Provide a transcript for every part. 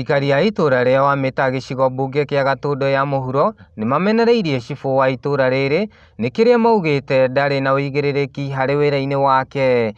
Aikari a itũra rĩa Wamĩta gĩcigo mbunge kĩa Gatũndũ ya mũhuro nĩmamenereirie cibũ wa itũra rĩrĩ nĩ kĩrĩa maugĩte ndarĩ na ũigĩrĩrĩki harĩ wĩra-inĩ wake.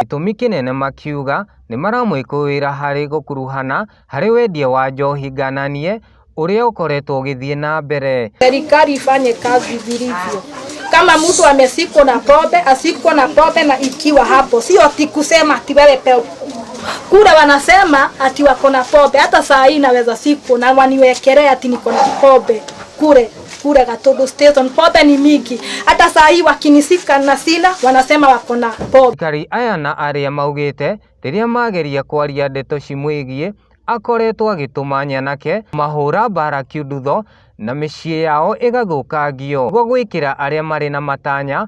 Gĩtũmi kĩnene makiuga nĩmaramwĩkũĩra harĩ gũkuruhana harĩ wendia wa njohi ngananie ũrĩa ũkoretwo ũgĩthiĩ na mbere. Serikali ifanye kazi vilivyo. Kama mtu amesikwa na pombe, asikwe na pombe na ikiwa hapo. Sio ati kusema ati wewe pe- Kule wanasema ati wako na pombe, hata saa hii naweza siku na waniwekelea ati niko na pombe kule kule Gatundu Station. Pombe ni mingi, hata saa hii wakinisika na sina, wanasema wako na pombe. Aikari aya na arĩa maugĩte rĩrĩa mageria kwaria ndeto cimwĩgiĩ akoretwo agĩtũma nyanake mahũra mbara kiundutho na mĩciĩ yao ĩgathũkangio nĩguo gwĩkĩra arĩa marĩ na matanya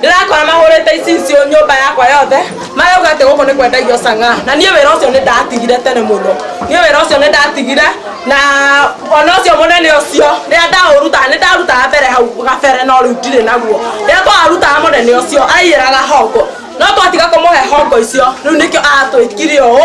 ndĩrakora mahũrĩte icicio nyũmba yakwa yothe marauga atĩ gũkũ nĩ kwendagio cang'a na niĩ wĩra ũcio nĩ ndatigire tene mũno niĩ wĩra ũcio nĩ ndatigire na ona ũcio mũnene ũcio rĩrĩa ndaũrutaga nĩ ndarutaga mbere hau gabere no rĩu ndirĩ naguo rĩrĩa twarutaga mũnene ũcio aiyĩraga hongo no twatiga kũmũhe hongo icio rĩu nĩkĩo atwĩkire ũũ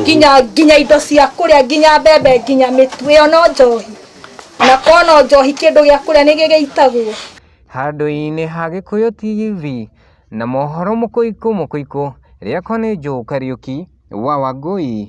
nginya nginya indo cia kũrĩa nginya mbembe nginya mĩtu ĩyo no njohi na korwo no njohi kĩndũ gĩa kũrĩa nĩ gĩgĩitagwo handũ-inĩ ha gĩkũyũ tv na mohoro mũkũikũ mũkũikũ rĩakwa nĩ joe kariuki wa wangũi